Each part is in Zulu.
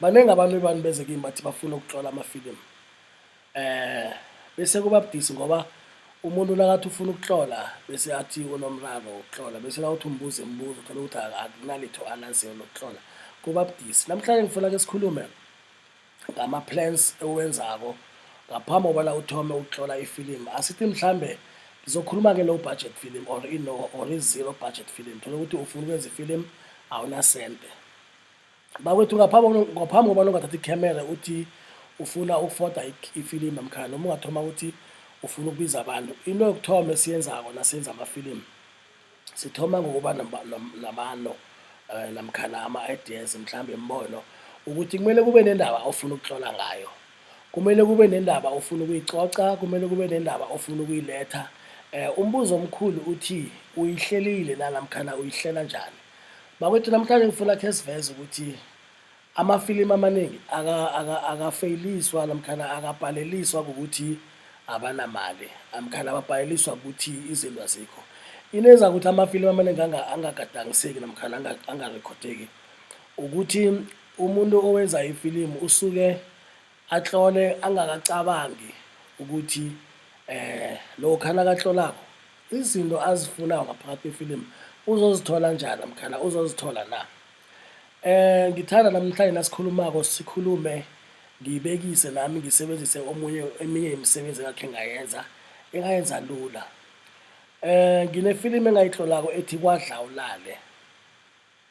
Baningi abantu ebani beze kimi bathi bafuna ukutlola amafilimu eh bese kuba budisi ngoba umuntu nakathi ufuna ukutlola bese athi unomraro wokutlola bese nawuthi umbuze imibuzo uthole ukuthi akunalitho alaziyo lokutlola kuba budisi namhlanje ngifuna ke sikhulume ngama-plans ewenzako ngaphambi kobana uthome ukutlola ifilimu asithi mhlambe ngizokhuluma ke low budget film or ino or i-zero budget film thole ukuthi ufuna ukwenza ifilimu awunasente Bakwethu ngaphambi kokuno- ngaphambi kobana ungathatha ikhamera uthi ufuna ukufoda ik- ifilimu namkhana noma ungathoma ukuthi ufuna ukubiza abantu into yokuthoma esiyenzako nasenza amafilimu sithoma ngokuba namba- nam- namano um namkhana ama-ideas mhlawumbe imibono ukuthi kumele kube nendaba ofuna ukutlola ngayo kumele kube nendaba ofuna ukuyicoca kumele kube nendaba ofuna ukuyiletha um umbuzo omkhulu uthi uyihlelile na namkhana uyihlela njani Bakwethu namhlanje ngifuna khe siveze ukuthi amafilimu amaningi akafeyiliswa namkhana akabhaleliswa ngokuthi abanamali namkhana ababhaleliswa ukuthi izinto azikho into eza ukuthi amafilimu amaningi angagadangiseki namkhana angarekhodeki ukuthi umuntu owenza ifilimu usuke Atlole angakacabangi ukuthi eh lokha nakatlolako izinto azifunayo ngaphakathi kwefilimu uzozithola njani namkhana uzozithola na eh ngithanda namhlanje nasikhulumako sikhulume ngibekise nami ngisebenzise omunye eminye imisebenzi engakhe ngayenza engayenza lula eh nginefilimu engayitlolako ethi kwadla ulale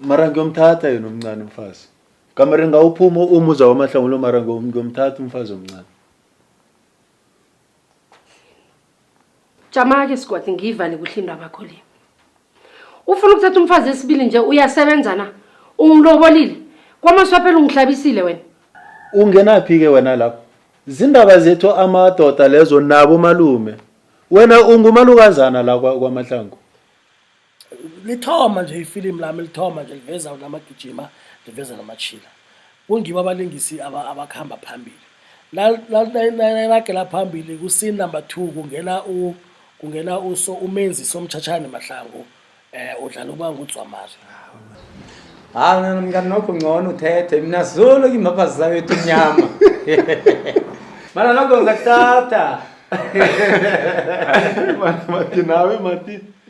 mara ngiyomthatha yena omncane umfazi kamare ngawuphuma uma uza wamahlangulo mara ngiyomthatha umfazi omncane jama-ke sigodi ngiyivale kuhle into abakho le ufuna ukuthatha umfazi esibili nje uyasebenza na ungilobolile kwamaswaphela ungihlabisile wena ungenaphi-ke wena lapho zindaba zethu amadoda lezo nabo malume wena ungumalukazana la kwamahlangu lithoma nje ifilimu lami lithoma nje liveza namagijima liveza namachila kungibo abalingisi abakuhamba phambili nalagela phambili kusini number two kungena u kungena uso umenzi somtshatshane mahlangu eh udlala uba ngudzwamari hayi mina mngani nokho ngcono uthethe mina zolo kimaphazi zawethu mnyama mana nokho ngizakuthatha mati nawe mati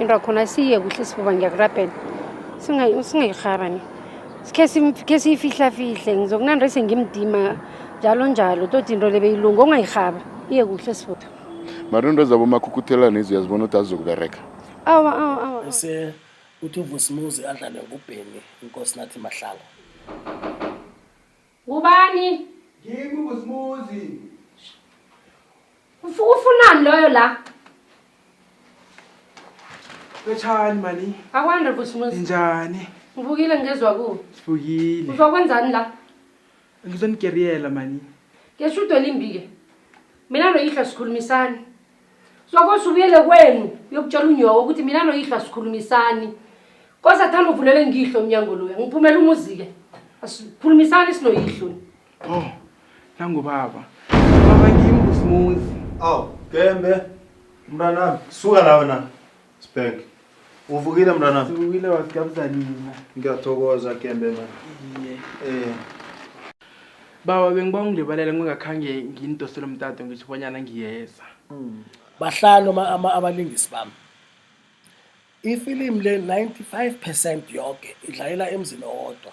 into akhona siye kuhle sifuba ngiyakurabhela singayiharani sikhe siyifihlafihle ngizokunanda ise ngimdima njalo njalo toti into le beyilunga ongayihaba iye kuhle sifuba mara into zabo makhukuthelane izo uyazibona ukuthi azizokubereka awa awa awa ese uthi uvusimuzi adlale ngubheni inkosi nathi mahlala Ngubani? Ngimi ubusimuzi. Ufu- Ufunani loyo la? Lotshani mani. Akwande Vusimuzi. Njani? Ngivukile ngezwa ku. Sivukile. Uzokwenzani la? Ngizonigeriyela mani. Ngeshudo limbi ke. Mina noyihlo sikhulumisani. Sokosa ubuyele kwenu uyokutshela unyoko ukuthi mina noyihlo asikhulumisani. Kosa thanda uvulele ngihlo umnyango loya. Ngiphumela umuzi-ke. Asikhulumisani sinoyihlo. Oh, nangu baba. Baba kimi usimuzi. Aw, Gembe. Mntanami, suka la wena. Spank. Uvukile mntwana? Uvukile wasigabza nina. Ngiyathokoza Gembe man. Iye. Eh. Bawa bengiba ungilebalela ngingakhange ngindosele umtato ngisho bonyana ngiyeza. Mm. Bahlanu ama, ama abalingisi bami. Ifilimu le 95% yonke idlalela emzini owodwa.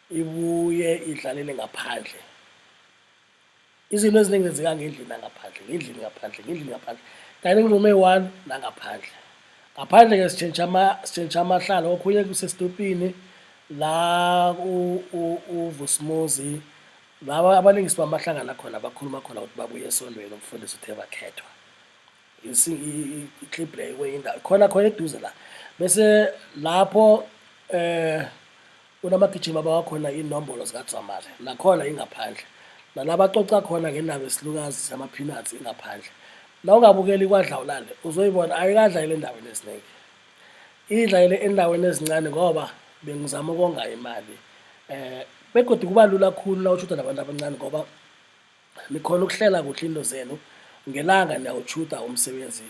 ibuye idlalele ngaphandle izinto eziningi zenzeka ngendlini nangaphandle ngendlini ngaphandle ngendlini ngaphandle kanye nengxuma eyi-one nangaphandle ngaphandle ke sitshentsha ama sitshentsha amahlalo okhunye kusesitopini la uvusimuzi laba abalingisi bamahlangana khona bakhuluma khona ukuthi babuye esontweni umfundisi uthe bakhethwa i-clip leyo kwenye indawo khona khona eduze la bese lapho eh kunamagijima abawakhona inombolo zikadzwamari nakhona ingaphandle nalaba coca khona ngendaba esilukazi sama-peanuts ingaphandle na ungabukeli kwadlawulale uzoyibona ayikadlayele endaweni eziningi idlayele endaweni ezincane ngoba bengizama ukonga imali um begodwa kuba lula khulu na ushuda nabantu abancane ngoba Nikhona ukuhlela kuhle into zenu ngelanga niyawutshuda umsebenzi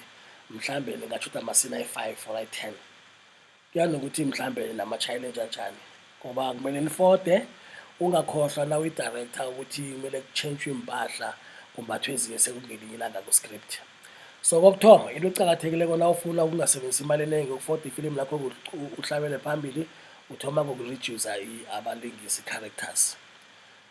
mhlawumbe ningatshuda amasina ayi-five or ayi-ten kuya nokuthi mhlawumbe namashayela enjanjani ngoba kumele nifode ungakhohlwa na uyi-director ukuthi kumele kutshentshwe iy'mpahla kumbathwe ezinye sekungelinye ilanga ku-script so kokuthoma into ecakathekile kona ufuna ukungasebenzisa imali eningi ukufoda ifilimu lakho uhlabele phambili uthoma ngoku-reducer abalingisi characters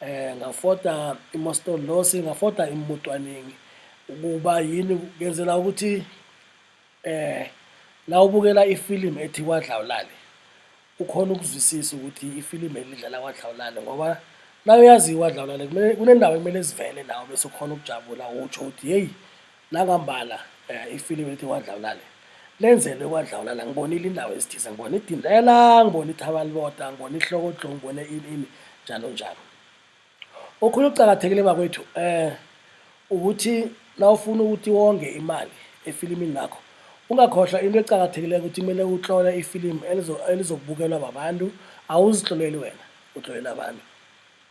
eh ngafota imostolosi ngafota imutwaningi ukuba yini ngenzela ukuthi eh la ubukela ifilimu ethi kwadlawulale ukhona ukuzwisisa ukuthi ifilimu elidlala kwadlawulale ngoba la uyaziwa kwadlawulale kunendawo ekumele zivele nawo bese ukhona ukujabula utsho ukuthi heyi Nangambala ifilimu elithi kwadlawulale lenzelwe kwadlawulala ngibonile indawo ezithize ngibona idindela ngibona ithaba libota ngibona ihlokodlo ngibone ini ini njalo njalo okhunye ukucakathekile bakwethu eh ukuthi nawufuna ukuthi wonge imali efilimini lakho ungakhohlwa into ecakathekileyo ukuthi kumele uhlole ifilimu elizobukelwa babantu awuzihloleli wena uhlolele abantu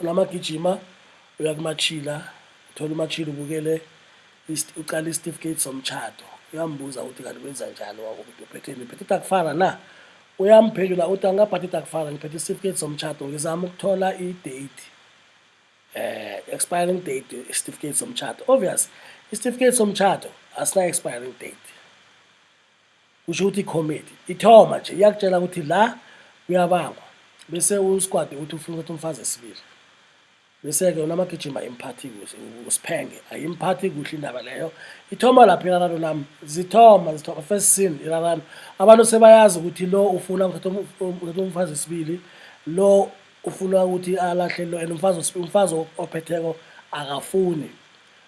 Ulama gijima uya kumachila thola umachila ubukele ucala isitifiketi somtshado uyambuza ukuthi kanti wenza njani wakuthi uphetheni phethe takufara na uyamphendula uthi angikaphathi takufara ngiphethe isitifiketi somtshado ngizama ukuthola i-date eh expiring date isitifiketi somtshado obvious isitifiketi somtshado asina expiring date kusho ukuthi ikhomiti ithoma nje iyakutshela ukuthi la kuyabangwa bese usquad uthi ufuna ukuthi umfazi esibili bese-ke unamagijima imphathi kuhle usiphenge ayimphathi kuhle indaba leyo ithoma lapho irarano lami zithoma zithoma first scene irarano abantu sebayazi ukuthi lo ufuna ukuthatha umfazi esibili lo ufuna ukuthi alahle lo and umfazi umfazi ophetheko akafuni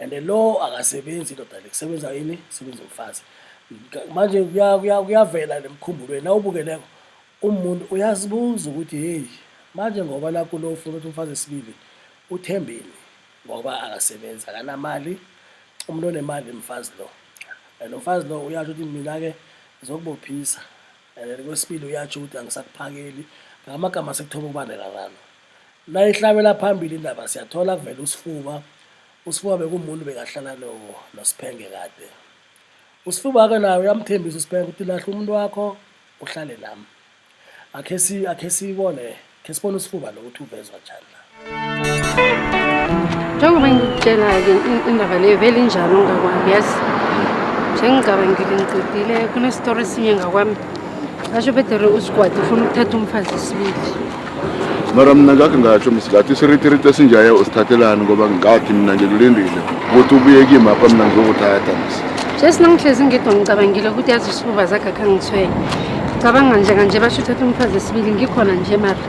and lo akasebenzi indoda le kusebenza yini sebenza umfazi manje kuyavela nemkhumbulweni nawubukeleko umuntu uyazibuza ukuthi heyi manje ngoba nakho lo ufuna ukuthi umfazi esibili uthembeni ngoba akasebenzi akanamali umuntu onemali mfazi lo and umfazi lo uyasho ukuthi mina-ke ngizokubophisa and kwesibili uyasho ukuthi angisakuphakeli ngamagama sekuthoba ukubandelalana Nayihlabela phambili indaba siyathola kuvela uSifuba. USifuba bekumuntu bekahlala no noSiphenge kade. USifuba-ke naye uyamthembisa uSiphenge ukuthi lahle umuntu wakho uhlale nami. Akhe si akhe sibone, khe sibone uSifuba lokuthi uvezwa njani la. Njengoba ngikutshela-ke in- indaba leyo vele injalo ngakwami yazi njengicabangile ngiqedile kunesitori esinye ngakwami ngasho bedere usigwadi ufuna ukuthatha umfazi isibili mara mna ngakhe ngatsho msilathi isiritiriti esinjaye usithathelani ngoba ngikathi mna ngikulindile ukuthi ubuye kimi apha mna ngizokuthatha msi jesi nangihlezi ngedwa ngicabangile ukuthi yazi usibuba zakhe akhe angithwele cabanga nje kanje basho uthatha umfazi esibili ngikhona nje mara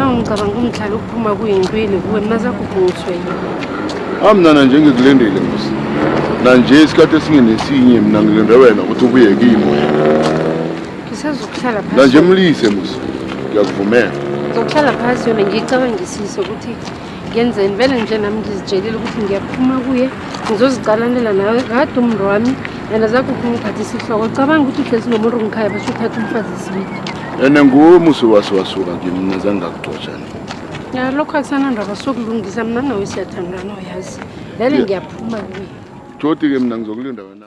Awu ngicabanga umdlalo ukuphuma kuyintwini kuwe mazakuphunguswe yini. Amnana nje ngikulendele musa. Na nje isikhathi esingenesinye mina ngilinde wena ukuthi ubuye kimi wena. Ngisazokuhlala phansi. Na nje mlise musa. Ngiyakuvumela. Ngizokuhlala phansi yona ngiyicabangisise ukuthi ngenzeni vele nje nami ngizitshelile ukuthi ngiyaphuma kuye ngizozicalanela nawe kade umntu wami and azakuphi ungiphathisa ihloko cabanga ukuthi uhlezi nomuntu ngikhaya basho uthatha umfazi isibili ene nguwe umusi wase wasuka kimi mina zange ngakugxotshana ya lokho akusanandaba sokulungisa mna nawe siyathandana uyazi vele ngiyaphuma kuye jodi ke mina ngizokulinda wena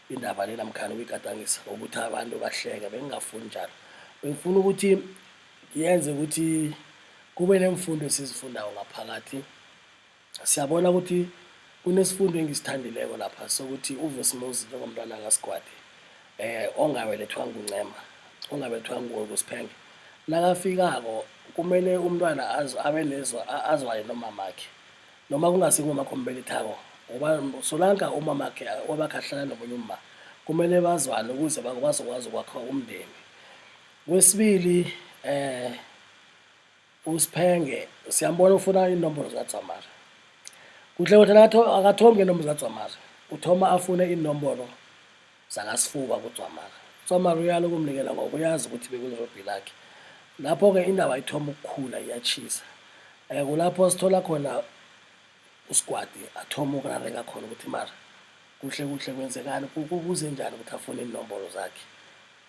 indaba lena mkhani ukuyigadangisa ukuthi abantu bahleke bengingafuni njalo bengifuna ukuthi yenze ukuthi kube nemfundo esizifundayo ngaphakathi siyabona ukuthi kunesifundo engisithandileko lapha sokuthi uvusimuzi njengomntwana kasigwadi um eh, ongabelethwa nguncema ongabelethwa ngukusphenge nakafikako kumele umntwana abe nezo azwayo nomamakhe noma kungasi ngoma khombeni thako ngoba solanka umamakhe wabakhahlala nomunye umma kumele bazwane ukuze bazokwazi ukwakha umndeni kwesibili eh usiphenge siyambona ufuna inombolo zikadzwamara kuhle kuhle akathome ngenombolo zikadzwamara uthoma afune inombolo zakasifuba kudzwamaka udzwamaka uyala ukumnikela ngoba uyazi ukuthi bekulirobhi lakhe lapho-ke indaba ithoma ukukhula iyatshisa um eh, kulapho sithola khona usigwadi athoma ukurareka khona ukuthi mara kuhle kuhle kwenzekani kuze njani ukuthi afune inombolo zakhe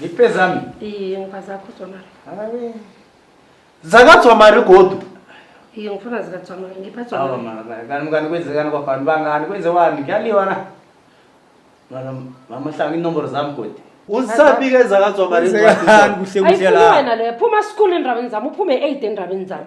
Ngipe zami? Iye, ngiba zakho Dzwamari. Hayi. Zaka Dzwamari godu? Iye, ngifuna zika Dzwamari. Ngipha Dzwamari. Awa mara, kanti mkani kwenzekani kwabantu bangani? Kwenzewani? Kuyaliwa na? Mara, mama hlanga inomboro zami godi. Uzisabike zaka Dzwamari Kwenzekani incwadi. kuhle kuhle Ayifunwe la. wena leyo. Phuma school endabeni zami. Uphume 8 endabeni zami.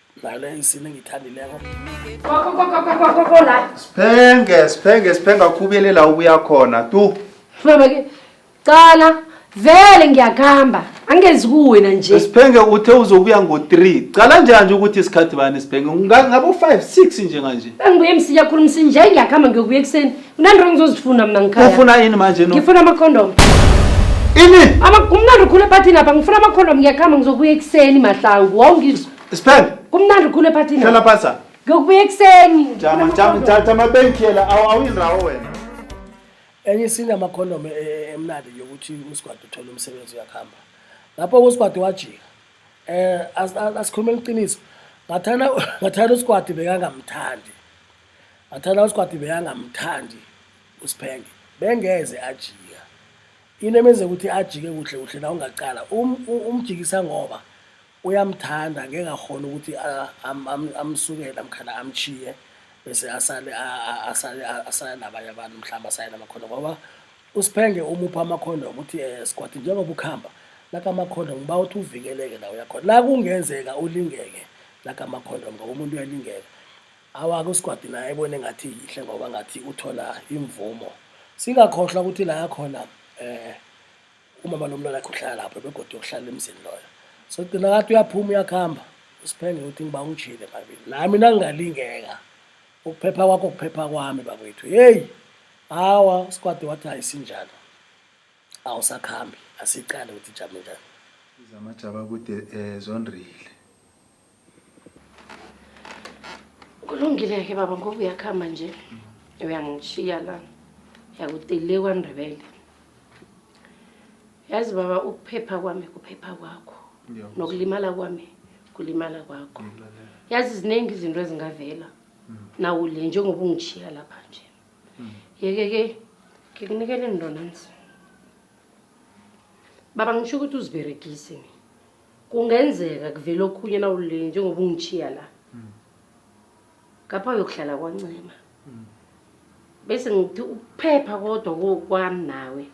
nale nsini engiyithandileko Siphenge, siphenge, siphenge akhubele la ubuya khona tu. Baba ke cala vele ngiyakuhamba angezi kuwena nje Siphenge uthe uzobuya ngo-3. Cala njani nje ukuthi isikhathi bani siphenge? Nga- Ngabo 5 6 nje kanje. bengibuye msinya khulu msinje ngiyakuhamba ngiyokubuya ekuseni Mnandi ngizozifuna mina ngikhaya. Ufuna yini manje no? Ngifuna ama condom. Ini? Ama kumnandi ukhule party lapha ngifuna ama condom ngiyakhamba ngizokuya ekseni mahlangu. Wawungizwa. Spell. Kumnandi ukhule party lapha. Hlala phansi. Ngiyokubuya ekseni. Jama jama jama bengikhela awuyindawo wena. Enye isini ama condom e, e, emnandi yokuthi uSgwadi uthola umsebenzi uyakhamba. Lapho uSgwadi wajika. Eh asikhulumela iqiniso. Ngathana ngathana uSgwadi bekangamthandi. Athana uSikhwati bekangamthandi uSiphenge bengeze ajika into emenze ukuthi ajike kuhle kuhle la ungaqala um, um, umjikisa ngoba uyamthanda ngeke akhona ukuthi amsukele amkhala amchiye bese asale asale asale nabanye abantu mhlawumbe asale namakhono ngoba uSiphenge umupha amakhono ukuthi eh, Sikhwati njengoba ukhamba lakamakhondom uba uthi uvikeleke la uyakhona la kungenzeka ulingeke lakamakhondom ngoba umuntu uyalingeka Awake uSgwadi naye ebone ngathi yihle ngoba ngathi uthola imvumo. Singakhohlwa ukuthi la yakhona eh umama lomntwana akhe uhlala lapho begodwa yokuhlala emzini loyo. So gcina ngathi uyaphuma uyakuhamba usiphenge uthi ngiba ungijile babili. Nami nangingalingeka ukuphepha kwakho kuphepha kwami bakwethu. Hey! Hawa uSgwadi wathi ayisinjalo. Awusakhambi asiqale ukuthi jame njani. Izamajaba kude eh zonrile. kulungile-ke baba ngoba uyakuhamba nje uyangishiya la yakutile kwandebele yazi baba ukuphepha kwami kuphepha kwakho nokulimala kwami kulimala kwakho yazi ziningi izinto ezingavela mm. nawu le njengoba ungishiya lapha nje mm. yeke-ke ngikunikele ndonanzi baba ngisho ukuthi uziberegise mina kungenzeka kuvele okhunye nawulile njengoba ungichiya la hmm. ngapha uyokuhlala kwancema hmm. bese ngithi ukuphepha kodwa kokwami nawe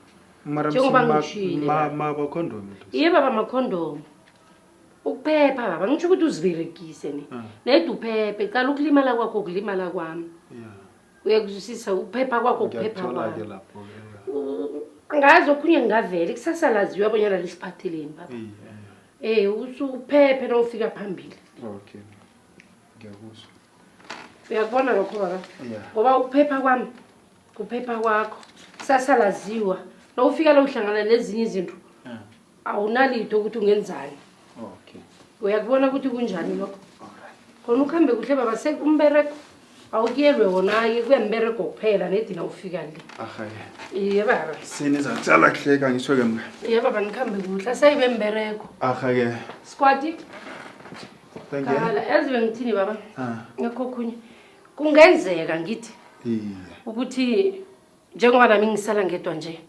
njengoba ngishile iye baba amakhondomu ukuphepha baba ngisho ukuthi uziberegise ni ah. nede uphephe cala ukulimala kwakho kulimala kwami uyakuzwisisa ukuphepha kwakho ukuphepha kwakho lapho ngazi okhunye ngingavele kusasa laziwa abonyana lisiphatheleni baba eh usuphephe nofika phambili okay ngiyakuzwa uyakubona lokho baba ngoba ukuphepha kwami kuphepha kwakho kusasa laziwa nofika lo uhlangana nezinye izinto awunalito ukuthi ungenzani okay uyakubona ukuthi kunjani lokho khona ukuhambe kuhle baba sekumbereko awukuyelwe wona-ke kuyambereko kuphela nedina ufika le iye baba sinizatsala kuhleka ngisho-ke mka iye baba nikuhambe kuhle asayibe mbereko ahake squati kala yazi bengithini baba ah. ngekho khunye kungenzeka ngithi ukuthi njengoba nami ngisala ngedwa nje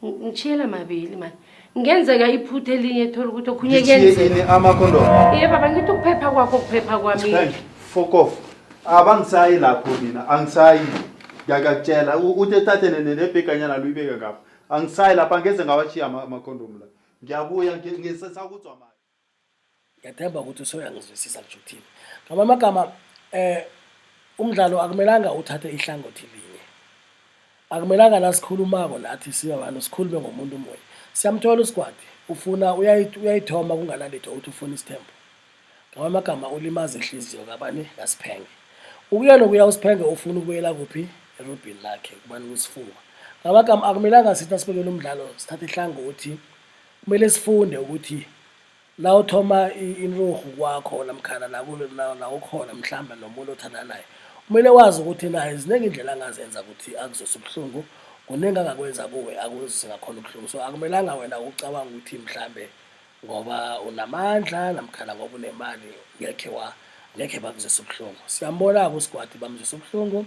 ngishiyela mabili mani ngenzeka iphutha elinye thola ukuthi okhunye kuyenzeka amakhondomu ye baba ngithi ukuphepha kwakho ukuphepha kwami fokof abangisayi lapho mina angisayi ngiyakakutshela uthi ethathe nebheganyana luyibeke ngapha angisayi lapha ngeze ngawashiya amakhondomu la ngiyabuya ngisesakuzwa mani ngiyathemba ukuthi usoyangizwisisa ngisho ukuthini ngama amagama eh umdlalo akumelanga uthathe ihlangothi linye akumelanga la sikhulumako nathi siba bantu sikhulume ngomuntu munye siyamthola usigwadi ufuna uyayithoma kunganalitho uthi ufuna isithembu ngama amagama ulimaza ihliziyo kabani ngasiphenge ukuya nokuya usiphenge ufuna ukubuyela kuphi erobhini lakhe kubani kusifuba ngama amagama akumelanga sithi nasibekela umdlalo sithathe ihlangothi Kumele sifunde ukuthi la uthoma inturhu kwakho namkhana la ukhona mhlawumbe nomuntu othandana naye kumele wazi ukuthi naye ziningi indlela angazenza ukuthi akuzose ubuhlungu kuningi angakwenza kuwe akuzise ngakhona ubuhlungu so akumelanga wena ucabanga ukuthi mhlawumbe ngoba unamandla namkhana ngoba unemali ngekhe wa ngekhe bakuzise ubuhlungu siyambona-ke usigwadi bamuzise ubuhlungu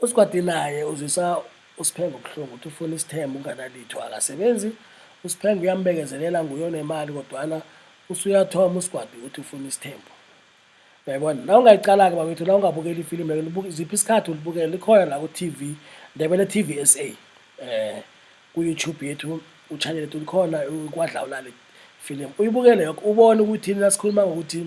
USgwadi naye uzwisa uSphenge ubuhlungu uthi ufuna isithembu unganalitho akasebenzi uSphenge uyambekezelela nguye onemali kodwana usuyathoma uSgwadi uthi ufuna isithembu uyayibona la ungayiqala-ke babethu la ungabukeli ifilimu lelo ziphi isikhathi ulibukele likhona la ku-tv ndebele tv s a um ku-youtube yethu uchannel yethu likhona kwadlawulale filimu uyibukele yoke ubone ukuthi nasikhuluma ngokuthi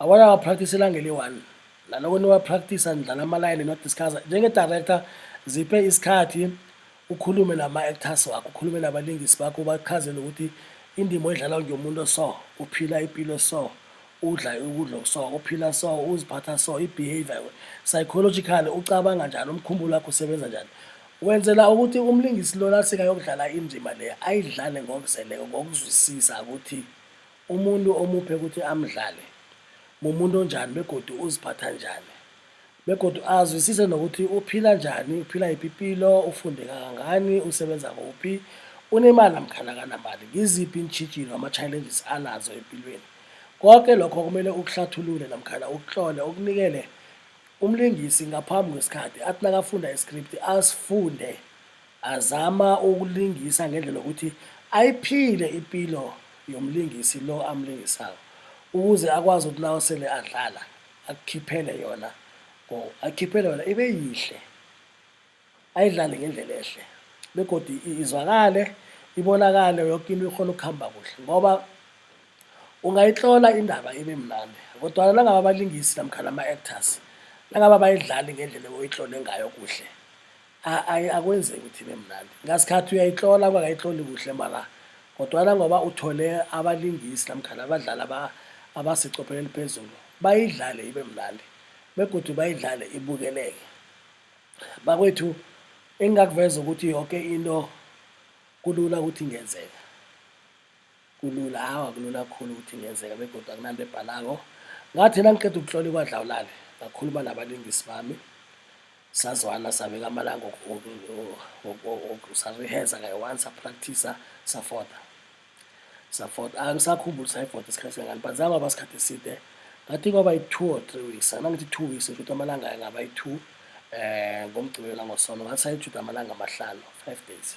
Awaya wa practice ilanga eliyi-one naloko niwapractice nidlala amalayini nodiscussa njenge-director ziphe isikhathi ukhulume nama-actors wakho ukhulume nabalingisi bakho ubachazele ukuthi indima oyidlala nje umuntu oso uphila impilo so udla ukudla okuso uphila so uziphatha so i-behavior psychological ucabanga njani umkhumbulo wakho usebenza njani wenzela ukuthi umlingisi lona sekayokudlala indima le ayidlale ngokuzeleko ngokuzwisisa ukuthi Umuntu omuphe ukuthi amdlale mumuntu onjani begodu uziphatha njani begodu azwisise nokuthi uphila njani, uphila yiphi ipilo, ufunde kangangani, usebenza kuphi, unemali namkhana akanamali, ngiziphi iintjhijilo ama-challenges anazo empilweni. Koke lokho kumele ukuhlathulule namkhana ukutlole, ukunikele umlingisi ngaphambi kwesikhathi, athi nakafunda i-script asifunde. Azama ukulingisa ngendlela yokuthi ayiphile impilo yomlingisi lo amlingisayo ukuze akwazi ukuthi nawo sele adlala akukhiphele yona or oh, akhiphele yona ibe yihle ayidlale ngendlela ehle begodi izwakale ibonakale yoke into ikhona ukuhamba kuhle ngoba ungayihlola indaba ibe mnandi kodwana nangabe abalingisi namkhana ama-actors nangabe abayidlali ngendlela oyihlole ngayo kuhle akwenzeki ukuthi ibe mnandi ngasikhathi uyayihlola kwakayihloli kuhle mala kodwana ngoba uthole abalingisi namkhana abadlali abasecophelo eliphezulu bayidlale ibe mnandi begodwa bayidlale ibukeleke bakwethu engingakuveza ukuthi yonke into kulula ukuthi ingenzeka Kulula, hawu akulula kakhulu ukuthi kungenzeka begodu akunanto ebhalako. Ngathi nangiqeda ukutlola ikwadlawulale, ngakhuluma nabalingisi bami, sazwana sabeka amalanga sariheza kayi-one sapractisa safota safota angisakhumbuli sayifota isikhathi singangani but zangaba isikhathi eside ngathi kwaba yi-two or three weeks anangithi two weeks ukuthi amalanga angaba yi-two um ngomgqibelo langosono ngathi sayijuda amalanga amahlanu five days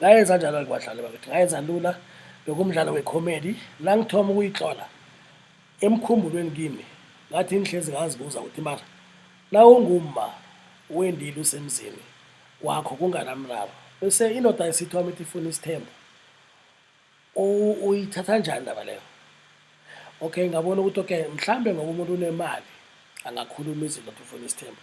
ngayenza njalo-ke badlali bakithi ngayenza lula bekumdlalo wecomedy la ngithoma ukuyihlola emkhumbulweni kimi ngathi ngihlezi ngazibuza ukuthi mara na ungumma wendile usemzini wakho kunganamraro bese indoda isithoma ithi ifuna isithembu uyithatha njani ndaba leyo okay ngabona ukuthi okay mhlawumbe ngoba umuntu unemali angakhuluma izinto athi ufuna isithembu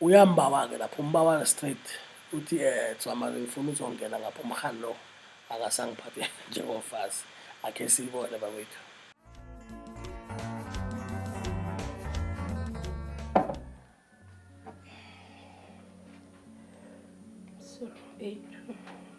Uyambawa-ke lapho umbawa straight uthi eh Dzwamari ngifuna uzongena ngapha umrhani lo akasangiphathi njengomfazi akhe siyibone bakwethu Sorry, eight.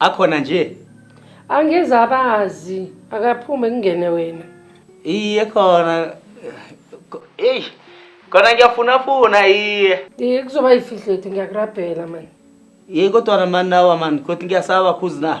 Akhona nje. Angeze abazi akaphume kungene wena. Iye khona. Ey. Khona ngiyafuna funa iye. Iye kuzoba yifihlethi ngiyakurabhela manje. Yey kodwa mani nawa mani kodwa ngiyasaba khuzi na.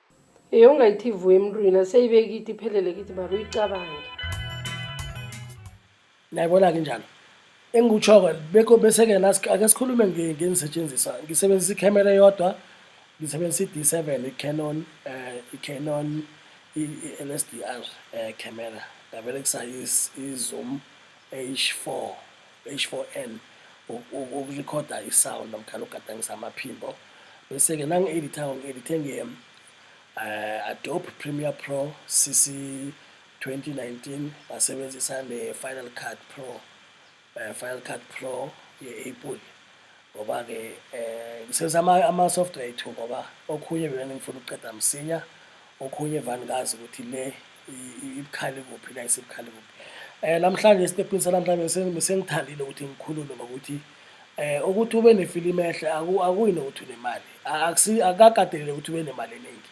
Ey ungayithi vu emntwini aseyibe kithi iphelele kithi mara uyicabange nayibona-ke njalo engikutsho-ke bekho bese-ke nas- ake sikhulume nge- ngenisetshenziswa ngisebenzisa ikhamera eyodwa ngisebenzisa i-d seven i-canon um i-canon i-l s d r um camera ngaberekisa i-zoom h four H4N ukurekhoda i-sound namkhana ukugadangisa amaphimbo bese-ke nangi-editha ngi-edithe nge-um eh, adobe premier pro cc 2019 ngasebenzisa ne-final cut pro um final cut pro ye-apple ngoba-ke um ngisebenzisa ama-software ethu ngoba okhunye bevane ngifuna ukuqeda msinya okhunye vane ngazi ukuthi le ibukhali kuphi la isibukhali kuphi um namhlanje esitepini sanamhlanje sengithandile ukuthi ngikhulume ngokuthi eh ukuthi ube nefilimi ehle akuyi nokuthi unemali akakatelele ukuthi ube nemali eningi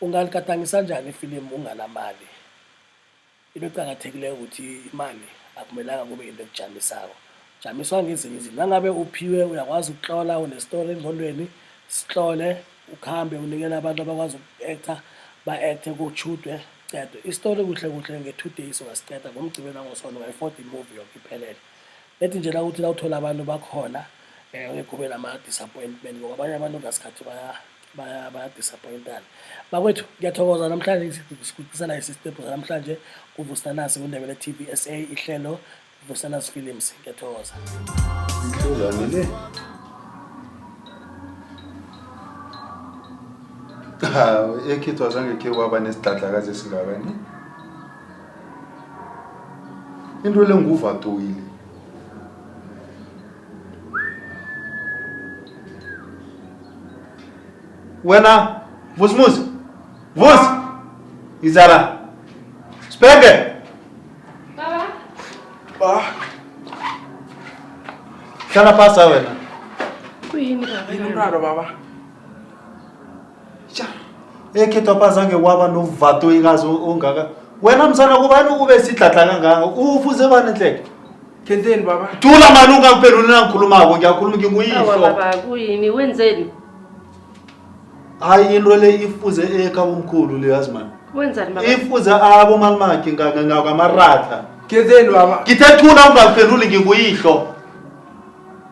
Ungaligadangisa kanjani ifilimu unganamali? Into eqakathekileyo ukuthi imali akumelanga kube into ekujamisayo. Jamiswa ngezinye izinto. Nangabe uphiwe uyakwazi ukuhlola unestori engqondweni, sihlole ukuhambe unikele abantu abakwazi uku-actor ba-acthe kushudwe cedwe. Isitori kuhle kuhle nge-two days ungasiqeda ngomgcibelo nangosono ngayi-fourteen movie yonke iphelele. ethi nje la ukuthi la uthola abantu bakhona eh, um kube nama-disappointment ngoba abanye abantu ngasikhathi baya-disappointana bakwethu ngiyathokoza namhlanje sikucisela isistebhu sanamhlanje kuvusanasi kundebele t v s a ihlelo vusanasi films ngiyathokoza hawu ekhithwa zange khe waba nesidladlakazi esingakani into le nguvatoile wena vusimuzi vusi izala sibheke Baba, hlala phasa wena kuyini baba? yini umraro baba? Cha. Ekhethu abazange waba novato ikazi ongaka. Wena msana kubani ube sidladla kangaka? Ufuze bani nhleke? Thenteni baba. Thula mani ungangiphenduli nangikhulumako ngiyakhuluma nginguyihlo. Awa baba kuyini wenzeni? Hayi into le ifuze ekha umkhulu le yazi mani. Wenzani baba? Ifuze abo malimakhe ngakamarata. Thenteni baba. Ngithe thula ungangiphenduli nginguyihlo.